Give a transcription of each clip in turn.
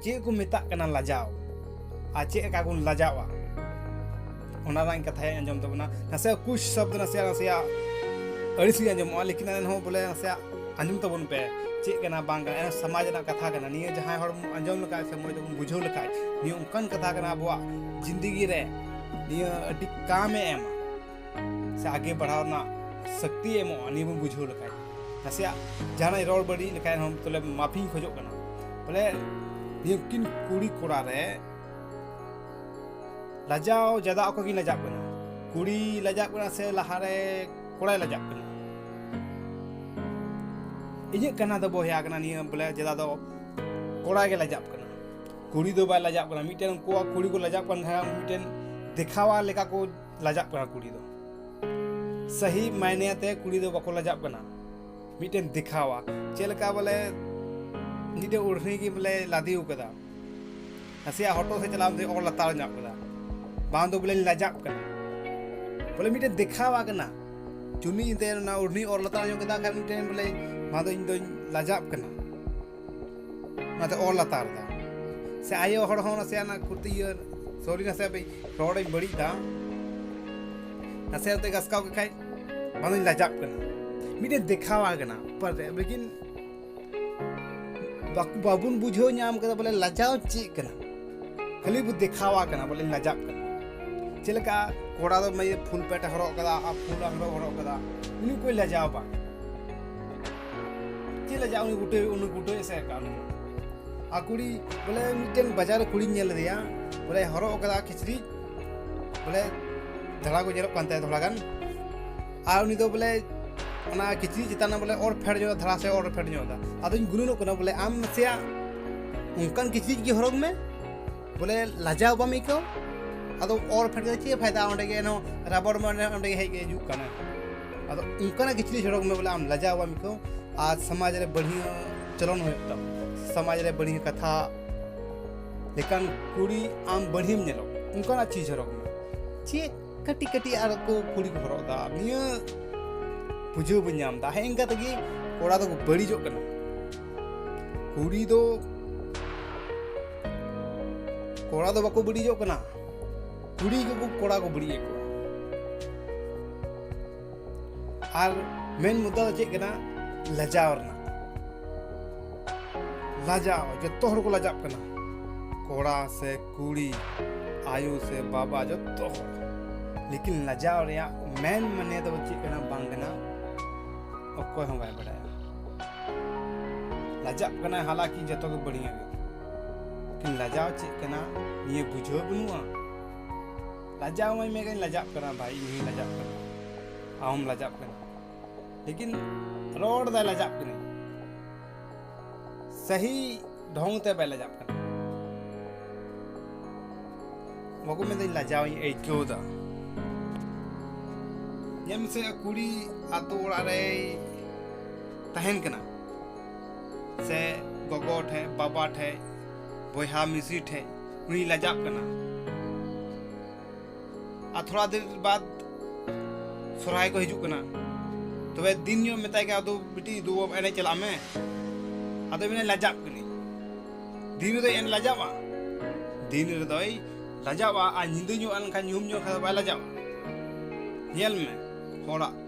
ᱪᱮᱫ ᱠᱚ ᱢᱮᱛᱟᱜ ᱠᱟᱱᱟ ᱞᱟᱡᱟᱣ ᱟᱨ ᱪᱮᱫ ᱞᱮᱠᱟ ᱵᱚᱱ ᱞᱟᱡᱟᱣᱟ ᱚᱱᱟ ᱨᱮᱱᱟᱜ ᱠᱟᱛᱷᱟᱭ ᱟᱸᱡᱚᱢ ᱛᱟᱵᱚᱱᱟ ᱱᱟᱥᱮ ᱠᱩᱪ ᱥᱚᱵᱫ ᱱᱟᱥᱮ ᱱᱟᱥᱮ ᱟᱹᱲᱤᱥ ᱜᱮ ᱟᱸᱡᱚᱢᱚᱜᱼᱟ ᱞᱮᱠᱤᱱ ᱮᱱᱦᱚᱸ ᱵᱚᱞᱮ ᱱᱟᱥᱮ ᱟᱸᱡᱚᱢ ᱛᱟᱵᱚᱱ ᱯᱮ ᱪᱮᱫ ᱠᱟᱱᱟ ᱵᱟᱝ ᱠᱟᱱᱟ ᱮᱱᱦᱚᱸ ᱥᱚᱢᱟᱡᱽ ᱨᱮᱱᱟᱜ ᱠᱟᱛᱷᱟ ᱠᱟᱱᱟ ᱱᱤᱭᱟᱹ ᱡᱟᱦᱟᱸᱭ ᱦᱚᱲ ᱟᱸᱡᱚᱢ ᱞᱮᱠᱷᱟᱡ ᱥᱮ ᱢᱚᱡᱽ ᱛᱮᱵᱚᱱ ᱵᱩᱡᱷᱟᱹᱣ ᱞᱮᱠᱷᱟᱡ ᱱᱤᱭᱟᱹ ᱚᱱᱠᱟᱱ ᱠᱟᱛᱷᱟ ᱠᱟᱱᱟ ᱟᱵᱚᱣᱟᱜ ᱡᱤᱱᱫᱮᱜᱤ ᱨᱮ ᱱᱤᱭᱟᱹ ᱟᱹᱰᱤ ᱠᱟᱢᱮ ᱮᱢᱟ ᱥᱮ ᱟᱜᱮ ᱵᱟᱲᱦᱟᱣ ᱨᱮᱱᱟᱜ ᱥᱚᱠᱛᱤ ᱮᱢᱚᱜᱼᱟ ᱱᱤᱭᱟᱹ ᱵᱚᱱ ᱵᱩᱡᱷᱟᱹᱣ ᱞᱮᱠᱷᱟᱡ ᱱᱟᱥᱮᱭᱟᱜ ᱡᱟᱦᱟᱱᱟᱜ ᱨᱚᱲ ᱵᱟᱹᱲᱤᱡ ᱞᱮᱠᱷᱟᱡ ᱦᱚᱸ ᱛᱚᱞᱮ ᱢᱟᱯᱷᱤᱧ ᱠᱷᱚᱡᱚᱜ ᱠᱟᱱᱟ ᱵᱚᱞᱮ ᱱᱤᱭᱟᱹ ᱠᱤᱱ ᱠᱩᱲᱤ ᱠᱚᱲᱟ ᱨᱮ ᱞᱟᱡᱟᱣ ᱡᱟᱫᱟ ᱚᱠᱚᱭ ᱜᱮ ᱞᱟᱡᱟᱜ ᱠᱟᱱᱟ ᱠᱩᱲᱤ ᱞᱟᱡᱟᱜ ᱠᱟᱱᱟ ᱥᱮ ᱞᱟᱦᱟᱨᱮ ᱠᱚᱲᱟᱭ ᱞᱟᱡᱟᱜ ᱠᱟᱱᱟ ᱤᱧᱟᱹᱜ ᱠᱟᱱᱟ ᱫᱚ ᱵᱚᱭᱦᱟ ᱠᱟᱱᱟ ᱱᱤᱭᱟᱹ ᱵᱚᱞᱮ ᱡᱟᱫᱟ ᱫᱚ ᱠᱚᱲᱟ ᱜᱮ ᱞᱟᱡᱟᱜ ᱠᱟᱱᱟ ᱠᱩᱲᱤ ᱫᱚ ᱵᱟᱭ ᱞᱟᱡᱟᱜ ᱠᱟᱱᱟ ᱢᱤᱫᱴᱮᱱ ᱩᱱᱠᱩᱣᱟᱜ ᱠᱩᱲᱤ ᱠᱚ ᱞᱟᱡᱟᱜ ᱠᱟᱱ ᱠᱷᱟᱱ ᱢᱤᱫᱴᱮᱱ ᱫᱮᱠᱷᱟᱣᱟ ᱞᱮᱠᱟ ᱠᱚ ᱞᱟᱡᱟᱜ ᱠᱟᱱᱟ ᱠᱩᱲᱤ ᱫᱚ ᱥᱟᱹᱦᱤ ᱢᱟᱭᱱᱮ ᱟᱛᱮ ᱠᱩᱲᱤ ᱫᱚ ᱵᱟᱠᱚ ᱞᱟᱡᱟᱜ ᱠᱟᱱᱟ ᱢᱤᱫᱴᱮᱱ ᱫᱮᱠᱷᱟᱣᱟ ᱪᱮᱫ ᱞᱮᱠᱟ ᱵᱚᱞᱮ ᱢᱤᱫᱴᱮᱱ ᱩᱲᱦᱤ ᱜᱮ ᱵᱚᱞᱮ ᱞᱟᱫᱮ ᱟᱠᱟᱫᱟ ᱱᱟᱥᱮᱭᱟᱜ ᱦᱚᱴᱚᱜ ᱥᱮᱫ ᱪᱟᱞᱟᱣ ᱠᱟᱛᱮ ᱚᱨ ᱞᱟᱛᱟᱨ ᱧᱚᱜ ᱠᱟᱫᱟ ᱵᱟᱝ ᱫᱚ ᱵᱚᱞᱮ ᱞᱟᱡᱟᱜ ᱠᱟᱱᱟ ᱵᱚᱞᱮ ᱢᱤᱫᱴᱮᱱ ᱫᱮᱠᱷᱟᱣᱟ ᱠᱟᱱᱟ ᱪᱩᱱᱤ ᱮᱱᱛᱮ ᱚᱱᱟ ᱩᱲᱦᱤ ᱚᱨ ᱞᱟᱛᱟᱨ ᱧᱚᱜ ᱠᱮᱫᱟ ᱠᱷᱟᱱ ᱢᱤᱫᱴᱮᱱ ᱵᱚᱞᱮ ᱵᱟᱝ ᱫᱚ ᱤᱧ ᱫᱚᱧ ᱞᱟᱡᱟᱜ ᱠᱟᱱᱟ ᱚᱱᱟᱛᱮ ᱚᱞ ᱞᱟᱛᱟᱨ ᱫᱟ ᱥᱮ ᱟᱭᱳ ᱦᱚᱲ ᱦᱚᱸ ᱱᱟᱥᱮ ᱚᱱᱟ ᱠᱷᱩᱛᱤ ᱤᱭᱟᱹ ᱥᱚᱨᱤ ᱱᱟᱥᱮ ᱨᱚᱲᱤᱧ ᱵᱟᱹᱲᱤᱡ ᱫᱟ ᱱᱟᱥᱮ ᱱᱟᱛᱮ ᱜᱟᱥᱠᱟᱣ ᱠᱮᱫ ᱠᱷᱟᱡ ᱵᱟᱝᱤᱧ ᱞᱟᱡᱟᱜ ᱠᱟᱱᱟ ᱢᱤᱫᱴᱮᱱ ᱫᱮᱠᱷᱟᱣᱟ ᱠᱟᱱᱟ ᱯᱟᱨ ᱞᱮᱠᱤᱱ ᱵᱟᱵᱚᱱ ᱵᱩᱡᱷᱟᱹᱣ ᱧᱟᱢ ᱠᱟᱫᱟ ᱵᱚᱞᱮ ᱞᱟᱡᱟᱣ ᱪᱮᱫ ᱠᱟᱱᱟ ᱠᱷᱟᱹᱞᱤ ᱵᱚ ᱫᱮᱠᱷᱟᱣᱟ ᱠᱟᱱᱟ ᱵᱚᱞᱮ ᱞᱟᱡᱟᱜ ᱠᱟᱱᱟ ᱪᱮᱫ ᱞᱮᱠᱟ ᱠᱚᱲᱟ ᱫᱚ ᱯᱷᱩᱞ ᱯᱮᱴ ᱦᱚᱨᱚᱜ ᱠᱟᱫᱟ ᱟᱨ ᱯᱷᱩᱞ ᱟᱝᱨᱚᱵ ᱦᱚᱨᱚᱜ ᱠᱟᱫᱟ ᱩᱱᱤ ᱠᱚᱭ ᱞᱟᱡᱟᱣ ᱵᱟᱝ ᱪᱮᱫ ᱞᱮ ᱩᱱᱤ ᱜᱩᱴᱟᱹ ᱩᱱᱤ ᱜᱩᱴᱟᱹ ᱮᱥᱮ ᱟᱠᱟᱫ ᱩᱱᱤ ᱟᱨ ᱠᱩᱲᱤ ᱵᱚᱞᱮ ᱢᱤᱫᱴᱮᱱ ᱵᱟᱡᱟᱨ ᱨᱮ ᱠᱩᱲᱤᱧ ᱧᱮᱞ ᱞᱮᱫᱮᱭᱟ ᱵᱚᱞᱮ ᱦᱚᱨᱚᱜ ᱟᱠᱟᱫᱟ ᱠᱤᱪᱨᱤᱡ ᱵᱚᱞᱮ ᱫᱷᱟᱲᱟ ᱠᱚ ᱧᱮᱞᱚᱜ ᱠᱟᱱ ᱛᱟᱭᱟ ᱛᱷᱚᱲᱟ ᱜᱟᱱ ᱟᱨ ᱩᱱᱤ ᱫᱚ ᱵᱚᱞᱮ ᱚᱱᱟ ᱠᱤᱪᱨᱤᱡ ᱪᱮᱛᱟᱱ ᱨᱮ ᱵᱚᱞᱮ ᱚᱨ ᱯᱷᱮᱰ ᱧᱚᱜ ᱫᱷᱟᱲᱟ ᱥᱮ ᱚᱨ ᱯᱷᱮᱰ ᱧᱚᱜ ᱮᱫᱟ ᱟᱫᱚᱧ ᱜᱩᱱᱟᱹᱱᱚᱜ ᱠᱟᱱᱟ ᱵᱚᱞᱮ ᱟᱢ ᱱᱟᱥᱮᱭᱟᱜ ᱚᱱᱠᱟᱱ ᱠᱤᱪᱨᱤᱡ ᱜᱮ ᱦᱚᱨᱚᱜ ᱢᱮ ᱵᱚᱞᱮ ᱞᱟᱡᱟᱣ ᱵᱟᱢ ᱟᱹᱭᱠᱟᱹᱣ ᱟᱫᱚ ᱚᱨ ᱯᱷᱮᱰ ᱠᱟᱛᱮ ᱪᱮᱫ ᱯᱷᱟᱭᱫᱟ ᱚᱸᱰᱮ ᱜᱮ ᱮᱱᱦᱚᱸ ᱨᱟᱵᱚᱲ ᱢᱟᱱᱮ ᱚᱸᱰᱮ ᱜᱮ ᱦᱮᱡ ᱦᱤᱡᱩᱜ ᱠᱟᱱᱟ ᱟᱫᱚ ᱚᱱᱠᱟᱱᱟᱜ ᱠᱤᱪᱷᱩ ᱠᱤᱪᱷᱩ ᱦᱚᱲ ᱠᱚ ᱵᱚᱞᱮ ᱟᱢ ᱞᱟᱡᱟᱣ ᱵᱟᱢ ᱟᱹᱭᱠᱟᱹᱣ ᱟᱨ ᱥᱚᱢᱟᱡᱽ ᱨᱮ ᱵᱟᱹᱲᱤᱡ ᱪᱚᱞᱚᱱ ᱦᱩᱭᱩᱜ ᱛᱟᱢ ᱥᱚᱢᱟᱡᱽ ᱨᱮ ᱵᱟᱹᱲᱤᱡ ᱠᱟᱛᱷᱟ ᱞᱮᱠᱟᱱ ᱠᱩᱲᱤ ᱟᱢ ᱵᱟᱹᱲᱤᱡ ᱧᱮᱞᱚᱜ ᱚᱱᱠᱟᱱᱟᱜ ᱪᱤᱡᱽ ᱦᱚᱨᱚᱜ ᱢᱮ ᱪᱮᱫ ᱠᱟᱹᱴᱤᱡ ᱠᱟᱹᱴᱤᱡ ᱟᱨ ᱠᱚ ᱠᱩᱲᱤ ᱠᱚ ᱦᱚᱨᱚᱜ ᱮᱫᱟ ᱱᱤᱭᱟᱹ ᱵᱩᱡᱷᱟᱹᱣ ᱵᱟᱹᱧ ᱧᱟᱢ ᱮᱫᱟ ᱦᱮᱸ ᱤᱱᱠᱟ ᱛᱮᱜᱮ ᱠᱚᱲᱟ ᱫᱚᱠᱚ ᱵᱟᱹᱲᱤᱡᱚᱜ ᱠᱟᱱᱟ ᱠᱩᱲᱤ ᱫᱚ ᱠᱚᱲᱟ ᱫᱚ ᱵᱟᱠᱚ ᱵᱟᱹᱲᱤᱡᱚᱜ ᱠᱟᱱᱟ ᱠᱩᱲᱤ ᱜᱮᱠᱚ ᱠᱚᱲᱟ ᱠᱚ ᱵᱟᱹᱲᱤᱡᱮᱫ ᱠᱚᱣᱟ ᱟᱨ ᱢᱮᱱ ᱢᱩᱫᱽᱫᱟ ᱫᱚ ᱪᱮᱫ ᱠᱟᱱᱟ ᱞᱟᱡᱟᱣ ᱨᱮᱱᱟᱜ ᱞᱟᱡᱟᱣ ᱡᱚᱛᱚ ᱦᱚᱲ ᱠᱚ ᱞᱟᱡᱟᱜ ᱠᱟᱱᱟ ᱠᱚᱲᱟ ᱥᱮ ᱠᱩᱲᱤ ᱟᱭᱳ ᱥᱮ ᱵᱟᱵᱟ ᱡᱚᱛᱚ ᱦᱚᱲ ᱞᱮᱠᱤᱱ ᱞᱟᱡᱟᱣ ᱨᱮᱭᱟᱜ ᱢᱮᱱ ᱢᱟᱱᱮ ᱫᱚ ᱪᱮᱫ ᱠᱟᱱᱟ ᱵᱟᱝ ᱠᱟᱱᱟ ᱚᱠᱚᱭ ᱦᱚᱸ ᱵᱟᱭ ᱵᱟᱲᱟᱭᱟ ᱞᱟᱡᱟᱜ ᱠᱟᱱᱟᱭ ᱦᱟᱞᱟᱠᱤ ᱡᱚᱛᱚ ᱜᱮ ᱵᱟᱹᱲᱤᱡ ᱞᱟᱡᱟᱣ ᱪᱮᱫ ᱠᱟᱱᱟ ᱱᱤᱭᱟᱹ ᱵᱩᱡᱷᱟᱹᱣ ᱵᱟᱹᱱᱩᱜᱼᱟ ᱞᱟᱡᱟᱣ ᱢᱟᱹᱧ ᱢᱮᱜᱟᱧ ᱞᱟᱡᱟᱜ ᱠᱟᱱᱟ ᱵᱷᱟᱭ ᱤᱧ ᱦᱚᱸᱧ ᱞᱟᱡᱟᱜ ᱠᱟᱱᱟ ᱟᱢ ᱞᱟᱡᱟᱜ ᱠᱟᱱᱟ ᱞᱮᱠᱤᱱ ᱨᱚᱲ ᱫᱟᱭ ᱞᱟᱡᱟᱜ ᱠᱟᱱᱟ ᱥᱟᱹᱦᱤ ᱰᱷᱚᱝ ᱛᱮ ᱵᱟᱭ ᱞᱟᱡᱟᱜ ᱠᱟᱱᱟ ᱵᱟᱠᱚ ᱢᱮᱱᱫᱟᱹᱧ ᱞᱟᱡᱟᱣ ᱤᱧ ᱟᱹᱭᱠᱟᱹᱣ ᱮᱫᱟ ᱧᱮᱞ ᱢᱮᱥᱮ ᱠᱩᱲᱤ ᱟᱛᱳ ᱚᱲᱟᱜ ᱨᱮᱭ ᱛᱟᱦᱮᱱ ᱠᱟᱱᱟ ᱥᱮ ᱜᱚᱜᱚ ᱴᱷᱮᱡ ᱵᱟᱵᱟ ᱴᱷᱮᱡ ᱵᱚᱭᱦᱟ ᱢᱤᱥᱤ ᱴᱷᱮᱡ ᱩᱱᱤ ᱞᱟᱡᱟᱜ ᱠᱟᱱᱟ ᱟᱨ ᱛᱷᱚᱲᱟ ᱫᱤᱱ ᱵᱟᱫ ᱥᱚᱨᱦᱟᱭ ᱠᱚ ᱦᱤᱡᱩᱜ ᱠᱟᱱᱟ ᱛᱚᱵᱮ ᱫᱤᱱ ᱧᱚᱜ ᱢᱮᱛᱟᱭ ᱠᱟᱱᱟ ᱟᱫᱚ ᱵᱤᱴᱤ ᱫᱩ ᱮᱱᱮᱡ ᱪᱟᱞᱟᱜ ᱢᱮ ᱟᱫᱚ ᱢᱮᱱᱟ ᱞᱟᱡᱟᱜ ᱠᱟᱹᱱᱟᱹᱧ ᱫᱤᱱ ᱨᱮᱫᱚ ᱮᱱ ᱞᱟᱡᱟᱣᱟ ᱫᱤᱱ ᱨᱮᱫᱚᱭ ᱞᱟᱡᱟᱣᱟ ᱟᱨ ᱧᱤᱫᱟᱹ ᱧᱚᱜ ᱮᱱᱠᱷᱟᱱ ᱧᱩᱦᱩᱢ ᱧᱚᱜ ᱠᱷᱟᱱ ᱵᱟᱭ ᱞᱟᱡᱟᱣᱟ ᱧᱮᱞ ᱢᱮ ᱦᱚᱲᱟᱜ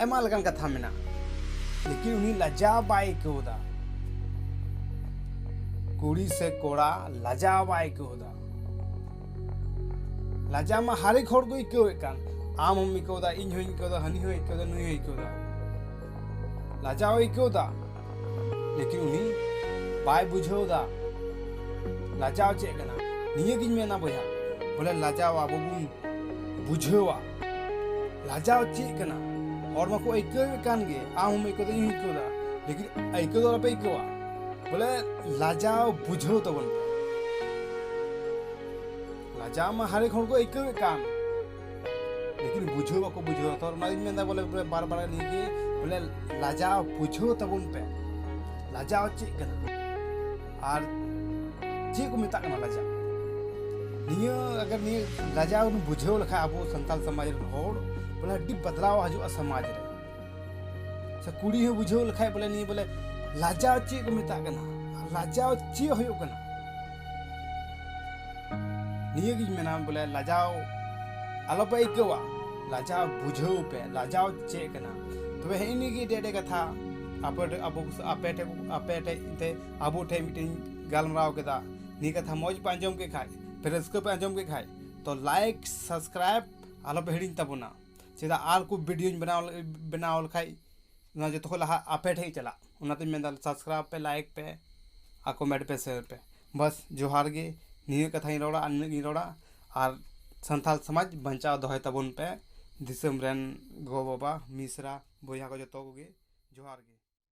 ᱟᱭᱢᱟ ᱞᱮᱠᱟᱱ ᱠᱟᱛᱷᱟ ᱢᱮᱱᱟᱜᱼᱟ ᱞᱮᱠᱤᱱ ᱩᱱᱤ ᱞᱟᱡᱟᱣ ᱵᱟᱭ ᱟᱹᱭᱠᱟᱹᱣ ᱮᱫᱟ ᱠᱩᱲᱤ ᱥᱮ ᱠᱚᱲᱟ ᱞᱟᱡᱟᱣ ᱵᱟᱭ ᱟᱹᱭᱠᱟᱹᱣ ᱮᱫᱟ ᱞᱟᱡᱟᱣ ᱢᱟ ᱦᱟᱨᱮᱠ ᱦᱚᱲ ᱠᱚ ᱟᱹᱭᱠᱟᱹᱣᱮᱫ ᱠᱟᱱ ᱟᱢ ᱦᱚᱢ ᱟᱹᱭᱠᱟᱹᱣ ᱮᱫᱟ ᱤᱧ ᱦᱚᱧ ᱟᱹᱭᱠᱟᱹᱣ ᱮᱫᱟ ᱦᱟᱹᱱᱤ ᱦᱚᱸ ᱟᱹᱭᱠᱟᱹᱣ ᱮᱫᱟ ᱱᱩᱭ ᱦᱚᱸ ᱟᱹᱭᱠᱟᱹᱣ ᱮᱫᱟ ᱞᱟᱡᱟᱣ ᱟᱹᱭᱠᱟᱹᱣ ᱮᱫᱟ ᱞᱮᱠᱤᱱ ᱩᱱᱤ ᱵᱟᱭ ᱵᱩᱡᱷᱟᱹᱣ ᱮᱫᱟ ᱞᱟᱡᱟᱣ ᱪᱮᱫ ᱠᱟᱱᱟ ᱱᱤᱭᱟᱹᱜᱤᱧ ᱢᱮᱱᱟ ᱵᱚᱭᱦᱟ ᱵᱚᱞᱮ ᱞᱟᱡᱟᱣ ᱟᱵᱚ ᱵᱚᱱ ᱵᱩᱡᱷᱟᱹᱣᱟ ᱞᱟᱡᱟᱣ ᱪᱮᱫ ᱠᱟᱱᱟ ᱦᱚᱲ ᱢᱟᱠᱚ ᱟᱹᱭᱠᱟᱹᱣᱮᱫ ᱠᱟᱱ ᱜᱮ ᱟᱢ ᱦᱚᱸᱢ ᱟᱹᱭᱠᱟᱹᱣ ᱫᱟ ᱤᱧ ᱦᱚᱸᱧ ᱟᱹᱭᱠᱟᱹᱣ ᱫᱟ ᱞᱮᱠᱤᱱ ᱟᱹᱭᱠᱟᱹᱣ ᱫᱚ ᱟᱞᱚᱯᱮ ᱟᱹᱭᱠᱟᱹᱣᱟ ᱵᱚᱞᱮ ᱞᱟᱡᱟᱣ ᱵᱩᱡᱷᱟᱹᱣ ᱛᱟᱵᱚᱱ ᱯᱮ ᱞᱟᱡᱟᱣ ᱢᱟ ᱦᱟᱨᱮᱠ ᱦᱚᱲ ᱠᱚ ᱟᱹᱭᱠᱟᱹᱣᱮᱫ ᱠᱟᱱ ᱞᱮᱠᱤᱱ ᱵᱩᱡᱷᱟᱹᱣ ᱵᱟᱠᱚ ᱵᱩᱡᱷᱟᱹᱣ ᱛᱚ ᱚᱱᱟᱜᱤᱧ ᱢᱮᱱᱫᱟ ᱵᱚᱞᱮ ᱵᱟᱨ ᱵᱟᱨ ᱱᱤᱭᱟᱹ ᱜᱮ ᱵᱚᱞᱮ ᱞᱟᱡᱟᱣ ᱵᱩᱡᱷᱟᱹᱣ ᱛᱟᱵᱚᱱ ᱯᱮ ᱞᱟᱡᱟᱣ ᱪᱮᱫ ᱠᱟᱱᱟ ᱟᱨ ᱪᱮᱫ ᱠᱚ ᱢᱮᱛᱟᱜ ᱠᱟᱱᱟ ᱞᱟᱡᱟᱣ ᱱᱤᱭᱟᱹ ᱟᱜᱟᱨ ᱱᱤᱭᱟᱹ ᱞᱟᱡᱟᱣ ᱵᱚᱱ ᱵᱩᱡᱷᱟᱹᱣ ᱞᱮᱠᱷᱟᱱ ᱟᱵᱚ ᱥᱟᱱᱛᱟᱲ ᱥᱚᱢᱟᱡᱽ ᱨᱮᱱ ᱦᱚᱲ ᱵᱚᱞᱮ ᱟᱹᱰᱤ ᱵᱟᱫᱞᱟᱣ ᱦᱤᱡᱩᱜᱼᱟ ᱥᱚᱢᱟᱡᱽ ᱨᱮ ᱥᱮ ᱠᱩᱲᱤ ᱦᱚᱸ ᱵᱩᱡᱷᱟᱹᱣ ᱞᱮᱠᱷᱟᱡ ᱵᱚᱞᱮ ᱱᱤᱭᱟᱹ ᱵᱚᱞᱮ ᱞᱟᱡᱟᱣ ᱪᱮᱫ ᱠᱚ ᱢᱮᱛᱟᱜ ᱠᱟᱱᱟ ᱟᱨ ᱞᱟᱡᱟᱣ ᱪᱮᱫ ᱦᱩᱭᱩᱜ ᱠᱟᱱᱟ ᱱᱤᱭᱟᱹ ᱜᱤᱧ ᱢᱮᱱᱟ ᱵᱚᱞᱮ ᱞᱟᱡᱟᱣ ᱟᱞᱚ ᱯᱮ ᱟᱹᱭᱠᱟᱹᱣᱟ ᱞᱟᱡᱟᱣ ᱵᱩᱡᱷᱟᱹᱣ ᱯᱮ ᱞᱟᱡᱟᱣ ᱪᱮᱫ ᱠᱟᱱᱟ ᱛᱚᱵᱮ ᱦᱮᱸᱜᱼᱮ ᱱᱤᱭᱟᱹ ᱜᱮ ᱟᱹᱰᱤ ᱟᱹᱰᱤ ᱠᱟᱛᱷᱟ ᱟᱯᱮ ᱟᱵᱚ ᱟᱯᱮ ᱴᱷᱮᱡ ᱟᱯᱮ ᱴᱷᱮᱡ ᱛᱮ ᱟᱵᱚ ᱴᱷᱮᱡ ᱢᱤᱫᱴᱮᱱ ᱜᱟᱞᱢᱟᱨᱟᱣ ᱠᱮᱫᱟ ᱱᱤᱭᱟᱹ ᱠᱟᱛᱷᱟ ᱢᱚᱡᱽ ᱯᱮ ᱟᱸᱡᱚᱢ ᱠᱮᱫ ᱠᱷᱟᱡ ᱯᱮ ᱨᱟᱹᱥᱠᱟᱹ ᱯᱮ ᱟᱸᱡᱚᱢ ᱠᱮᱫ ᱠᱷᱟᱡ ᱛᱚ ᱞᱟᱭᱤᱠ ᱥᱟᱵᱥᱠᱨᱟᱭᱤᱵ ᱟᱞᱚ ᱯᱮ ᱦᱤᱲᱤᱧ ᱛᱟᱵᱚᱱᱟ ᱪᱮᱫᱟᱜ ᱟᱨ ᱠᱚ ᱵᱷᱤᱰᱤᱭᱳᱧ ᱵᱮᱱᱟᱣ ᱵᱮᱱᱟᱣ ᱞᱮᱠᱷᱟᱡ ᱱᱚᱣᱟ ᱡᱚᱛᱚ ᱠᱷᱚᱡ ᱞᱟᱦᱟ ᱟᱯᱮ ᱴᱷᱮᱡ ᱪᱟᱞᱟᱜ ᱚᱱᱟᱛᱤᱧ ᱢᱮᱱᱫᱟ ᱥᱟᱵᱥᱠᱨᱟᱭᱤᱵ ᱯᱮ ᱞᱟᱭᱤᱠ ᱯᱮ ᱟᱨ ᱠᱚᱢᱮᱱᱴ ᱯᱮ ᱥᱮᱭᱟᱨ ᱯᱮ ᱵᱟᱥ ᱡᱚᱦᱟᱨ ᱜᱮ ᱱᱤᱭᱟᱹ ᱠᱟᱛᱷᱟᱧ ᱨᱚᱲᱟ ᱟᱨ ᱱᱤᱱᱟᱹᱜ ᱜᱮᱧ ᱨᱚᱲᱟ ᱟᱨ ᱥᱟᱱᱛᱟᱲ ᱥᱚᱢᱟᱡᱽ ᱵᱟᱧᱪᱟᱣ ᱫᱚᱦᱚᱭ ᱛᱟᱵᱚᱱ ᱯᱮ ᱫᱤᱥᱚᱢ ᱨᱮᱱ ᱜᱚᱼᱵᱟᱵᱟ ᱢᱤᱥᱨᱟ ᱵᱚᱭᱦᱟ ᱠᱚ ᱡᱚᱛᱚ ᱠᱚᱜᱮ ᱡᱚᱦᱟᱨ ᱜᱮ